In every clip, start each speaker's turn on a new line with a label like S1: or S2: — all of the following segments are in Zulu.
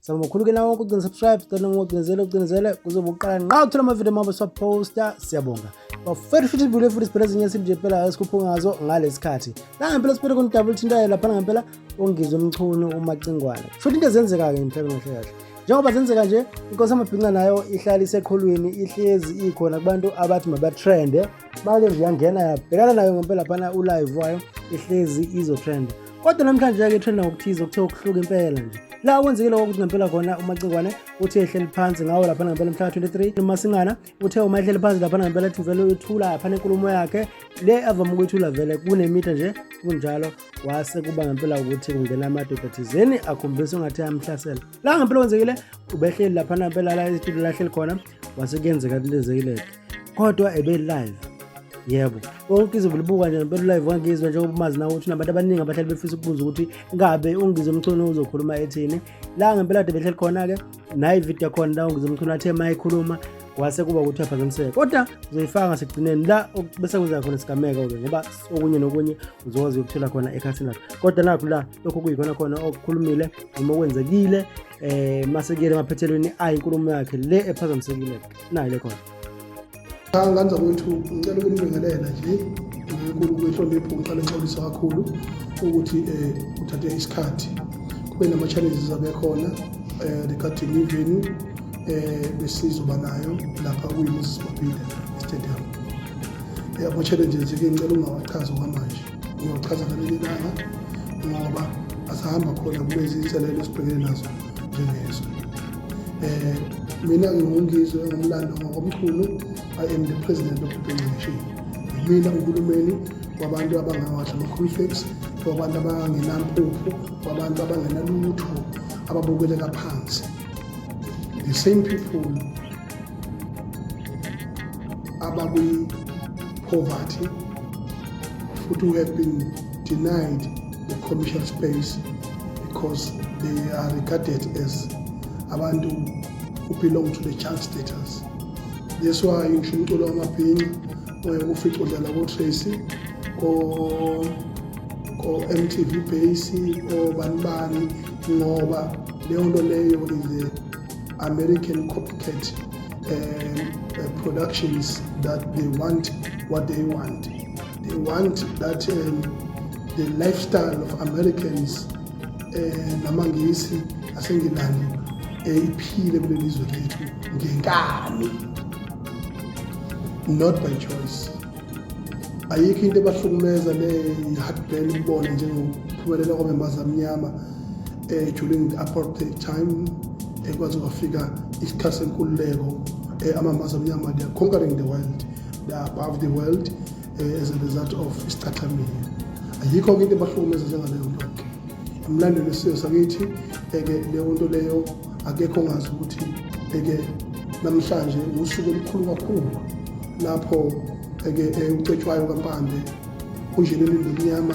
S1: saba mkhulu ke nawo ukugcina subscribe cela ngocinezele ucinezele kuzoba uqala nqa uthola amavidiyo mabo siwaposta siyabonga bafethu futhi ibule futhi siphela ezinye isimbi nje phela esikhuphe ngazo ngalesi khathi nangempela siphele khona udabula uthintayo laphana ngempela ongizwe umchunu umacingwane futhi into ezenzeka-ke emhlabeni kahle kahle njengoba zenzeka nje inkosi amabhinca nayo ihlala iseqholweni ihlezi ikhona kubantu abathi mabatrende bake nje yangena yabhekana nayo ngempela phana ulive wayo ihlezi izotrenda kodwa namhlanje-ke ithenda ngokuthiza okuthe ukuhluka impela nje la okwenzeke lokho ukuthi ngempela khona umacikwane uthe ehleli phansi ngawo laphana ngempela mhla 23 umasingana uthe uma ehleli phansi laphana ngempela ethi vele uyethula laphana enkulumo yakhe le avame ukuyithula vele kunemitha nje kunjalo wase kuba ngempela ukuthi kungena amadoda thizeni akhombisa ungathi amhlasela la ngempela kwenzekile ubehleli laphana ngempela la estudio lahleli khona wase kuyenzeka kulezeke lento kodwa ebe live yebo wonke izobe libuka nje ngempela live wangizwa njengoba umazi nawe ukuthi nabantu abaningi abahlali befisa ukubuza ukuthi ngabe ungize umchunu uzokhuluma ethini la ngempela kade behleli khona-ke naye ividiyo khona la ungize umchunu athe ma ekhuluma wase kuba ukuthi aphazamiseke kodwa uzoyifaka ngasekugcineni la bese kwenzeka khona isigameko-ke ngoba okunye nokunye uzokwazi ukuthola khona ekhathini lakho kodwa nakho la lokho kuyikhona khona okukhulumile noma okwenzekile eh mase kuyele emaphethelweni ayi inkulumo yakhe le ephazamisekile nayo le khona
S2: nganza kwethu ngicela ukunibingelela nje ngenkulu kwehlonipho ngiqale ngixolisa kakhulu ukuthi um kuthathe isikhathi kube nama-challenges abekhona um regarding ivenu um eh, besizoba nayo lapha kuyimoses mabile stadium um ama-challenges-ke ngicela ungawachazi okwamanje Ngiyochaza ngaleli langa ngoba asihamba khona kulezi inselelo esibhekene nazo njengezwe. Um mina ngingungizwe ngomlando ngokomkhulu i am the president of the pension yimina uhulumeni wabantu abangawadla ama-confix wabantu abangenampuphu wabantu abangenalutho ababukeleka phansi the same people abakwi-poverty futhi who have been denied the commercial space because they are regarded as abantu who belong to the child status that's why ngisho umculo wamabhinca oye kufica udlala kotracy ko-mtv base obani bani ngoba leyo nto leyo is American copycat uh, productions that they want what they want. They want that um, the lifestyle of Americans eh, namangisi asengilandi eyiphile eh, kuleli zwe lethu ngenkani not by choice ayikho into ebahlukumeza le-heartburn ukubona njengokuphumelela kwamembaza amnyama eh, during the apartheid time eh, kwaze kwafika isikhathi senkululeko eh, amambaza amnyama they are conquering the world they are above the world eh, as a result of isicathamile ayikho ke into ebahlukumeza njengaleyo nto ke emlandweni wesizwe sakithi eke eh, leyo nto leyo akekho ongazi ukuthi eke eh, namhlanje usuku olukhulu kakhulu lapho eke eh, ucetshwayo kampande unjeni elindwe mnyama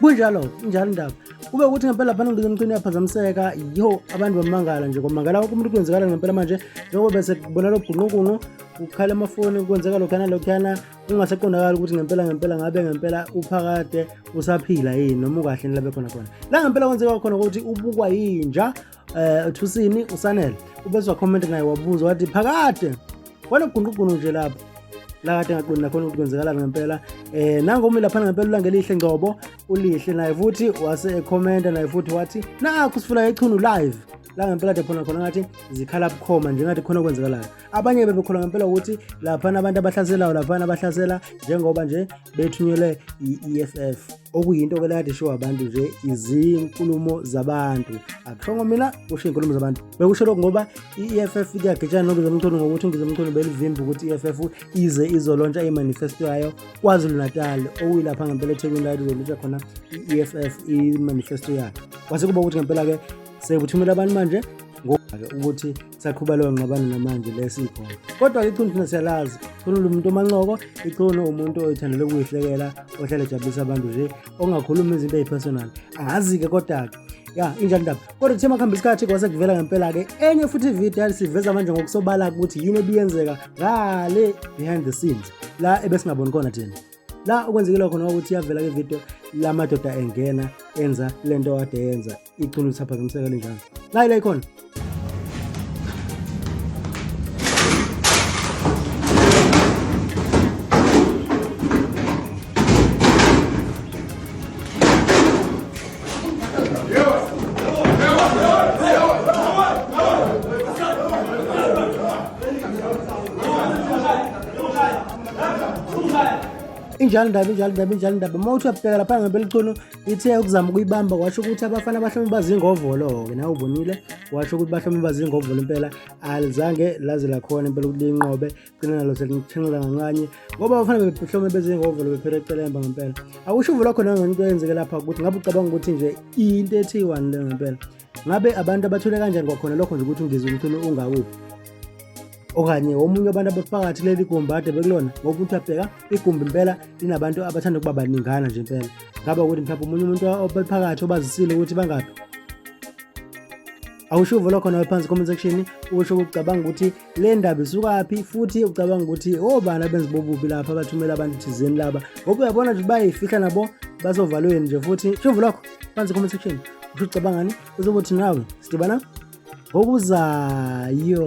S1: kunjalo injalo indaba kube ukuthi ngempela phana ngidike emcini yaphazamiseka yo abantu bamangala nje kwamangala wonke umuntu kwenzekala ngempela manje njengoba bese kubona lo bhunqunqunqu kukhala amafoni kwenzeka lokhana lokhana kungasaqondakali ukuthi ngempela ngempela ngabe ngempela uphakade usaphila yini noma ukahle nilabe khona khona la ngempela kwenzeka khona ukuthi ubukwa yinja eh uthusini usanele ubezwa comment naye wabuza wathi phakade wanogunqugunu nje lapho la kade ngaqondi nakhona ukuthi kwenzekalani ngempela eh nangomi laphana ngempela ulangelihle ngcobo ulihle naye futhi wase ekhomenta naye futhi wathi nakho sifuna ichunu live la ngempela de khona khona ngathi zikhala bukhoma njengathi khona okwenzekalayo abanye bebekholwa ngempela ukuthi laphana abantu abahlaselayo laphana abahlasela njengoba nje bethunyelwe i-EFF okuyinto ke lade ishiwo abantu nje izinkulumo zabantu akushongo mina kusho iy'nkulumo zabantu bekusho lokhu ngoba i-EFF kuyagitshana nongizomthondo ngokuthi ungizomthondo belivimba ukuthi i-EFF ize izolontsha imanifesto yayo kwazulu-natal okuyilapha ngempela ethekwini layo izolontsha khona i-EFF imanifesto yayo kwase kuba ukuthi ngempela-ke sekuthumela abantu manje ngoba-ke ukuthi saqhuba leyo ngxabano namanje le sikhona kodwa-ke iqhunu thina siyalazi iqhunu lumuntu omanqoko iqhunu umuntu oyithanda lokuyihlekela ohlale ejabulisa abantu nje ongakhulumi izinto eyi-personal angazi-ke kodwa-ke ya injani ndaba kodwa kuthe makuhamba isikhathi kwase kuvela ngempela-ke enye futhi ividiyo yalisiveza manje ngokusobala ukuthi yini ebiyenzeka ngale behind the scenes la ebesingaboni khona thina la okwenzekile khona ukuthi yavela ke video la madoda engena enza lento kade yenza ichunu lisaphazamiseka linjalo la ila ikhona injalo indaba injalo indaba injalo indaba uma uthi uyabheka lapha ngempela icono ithe ukuzama ukuyibamba washo ukuthi abafana bahlome bazingovolo-ke nawe ubonile washo ukuthi bahlome bazingovolo impela alizange laze lakhona impela ukuthi liyinqobe gcina nalo selithenxela kancanye ngoba abafana behlome bezingovolo bephela ecelemba ngempela akusho uvula khona ngento eyenzeke lapha ukuthi ngabe ucabanga ukuthi nje into ethi iwani le ngempela ngabe abantu abathule kanjani kwakhona lokho nje ukuthi ungizwe umthuno ungakuphi okanye omunye wabantu abaphakathi kuleli gumbi ade bekulona ngokuthi abheka igumbi impela linabantu abathanda ukuba baningana nje impela ngaba ukuthi mhlawumbe omunye umuntu obephakathi obazisile ukuthi bangaphi awushuvo lokho nawe phansi comment section usho ukucabanga ukuthi le ndaba isukaphi futhi ucabanga ukuthi obani abenzi bobubi lapha abathumela abantu thizeni laba ngoba uyabona nje bayifihla nabo bazovalweni nje futhi shuvu lokho phansi comment section usho ucabangani uzokuthi nawe sidibana ngokuzayo